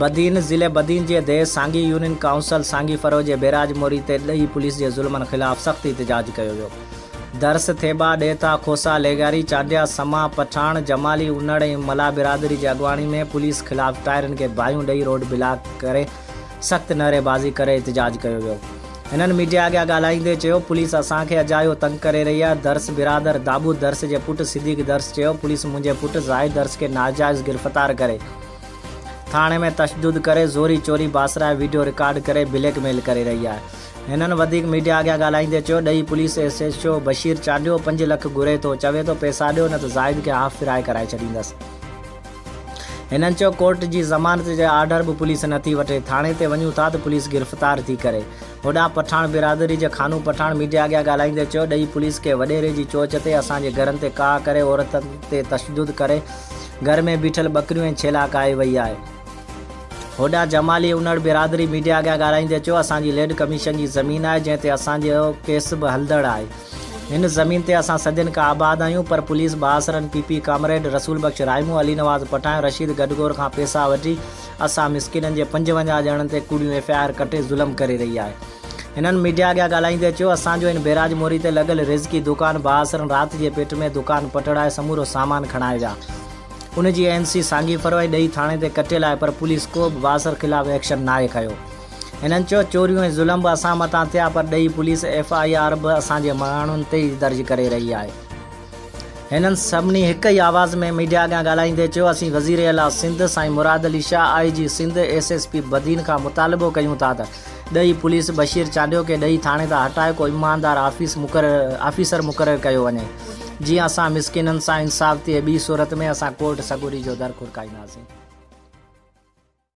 بدين، ضلعي بدين جي ديء سانگي يونين ڪائونسل سانگي فرو جي بيراج موري تي ڏيهي پوليس جي ظلمن خلاف سخت احتجاج ڪيو ويو. درس، ٿيٻا، ڏيٿا، کوسا، ليگاري، چانڊيا، سما، پٺاڻ، جمالي، انڙ ۽ ملاح برادري جي اڳواڻي ۾ پوليس خلاف ٽائرن کي باهيون ڏئي روڊ بلاڪ ڪري سخت نعري بازي ڪري احتجاج ڪيو ويو هنن ميڊيا اڳيان ڳالهائيندي چيو پوليس اسان کي اجايو تنگ ڪري رهي آهي درس برادر دابود درس جي پٽ صديق درس چيو پوليس منهنجي پٽ زاهد درس کي ناجائز گرفتار ڪري ٿاڻي ۾ تشدد ڪري زوري چوري باسرائي ويڊيو رڪارڊ ڪري بليڪ ميل ڪري رهي آهي هنن وڌيڪ ميڊيا اڳيان ڳالهائيندي چيو ڏهي police S S O Bashir Chandio پنج لک گهري ٿو چوي ٿو پيسا ڏيو نه ته زاهد کي هاف فرائي ڪرائي ڇڏيندس. هنن چيو ڪورٽ جي ضمانت جي آرڊر به پوليس نٿي وٺي، ٿاڻي تي وڃون ٿا ته پوليس گرفتار ٿي ڪري. هوڏانهن پٺاڻ برادري جي خانو پٺاڻ ميڊيا اڳيان ڳالهائيندي چيو ڏهي پوليس ڪنهن وڏيري جي چوچ تي اسان جي گهرن تي ڪاهه ڪري عورتن تي تشدد ڪري گهر ۾ بيٺل ٻڪريون ۽ ڇيلا ڪاهي وئي آهي. هوڏانهن جمالي انڙ برادري ميڊيا اڳيان ڳالهائيندي چيو اسان جي ليڊ ڪميشن جي زمين آهي جنهن تي اسان جو ڪيس به هلندڙ آهي. هن زمين تي اسان صدين کان آباد آهيون پر پوليس بااثرن P P comrade Rasool Bakhsh رائمو، Ali Nawaz Pathan, Rashid گڊگور کان پيسا وٺي اسان مسڪينن جي پنجونجاهه ڄڻن تي ڪوڙيون ايف آء آر ڪٽي ظلم ڪري رهي آهي. هنن ميڊيا اڳيان ڳالهائيندي چيو اسان جو هن بئراج موري تي لڳل رزقي دڪان بااثرن رات جي پيٽ ۾ دڪان پٽڙائي سمورو سامان کڻائي ويا. ان جي اين سي سانگي فروعي ڏهي ٿاڻي تي ڪٽيل آهي پر پوليس ڪو به بااثر خلاف ايڪشن ناهي کنيو. هنن چيو چوريون ۽ ظلم به اسان مٿان ٿيا پر ڏهي پوليس ايف آء آر به اسان جي ماڻهن تي ئي درج ڪري رهي آهي. هنن سڀني هڪ ئي آواز ۾ ميڊيا اڳيان ڳالهائيندي چيو اسين وزير اعليٰ سنڌ سائين مراد علي شاهه، آء جي سنڌ، ايس ايس پي بدين کان مطالبو ڪيون ٿا ته ڏهي پوليس بشير چانڊيو کي ڏهي ٿاڻي تان هٽائي ڪو ايماندار آفيس مقرر آفيسر مقرر ڪيو وڃي جيئن اسان مسڪينن سان انصاف ٿئي ٻي صورت ۾ اسان ڪورٽ سڳوري جو در کڙڪائينداسين.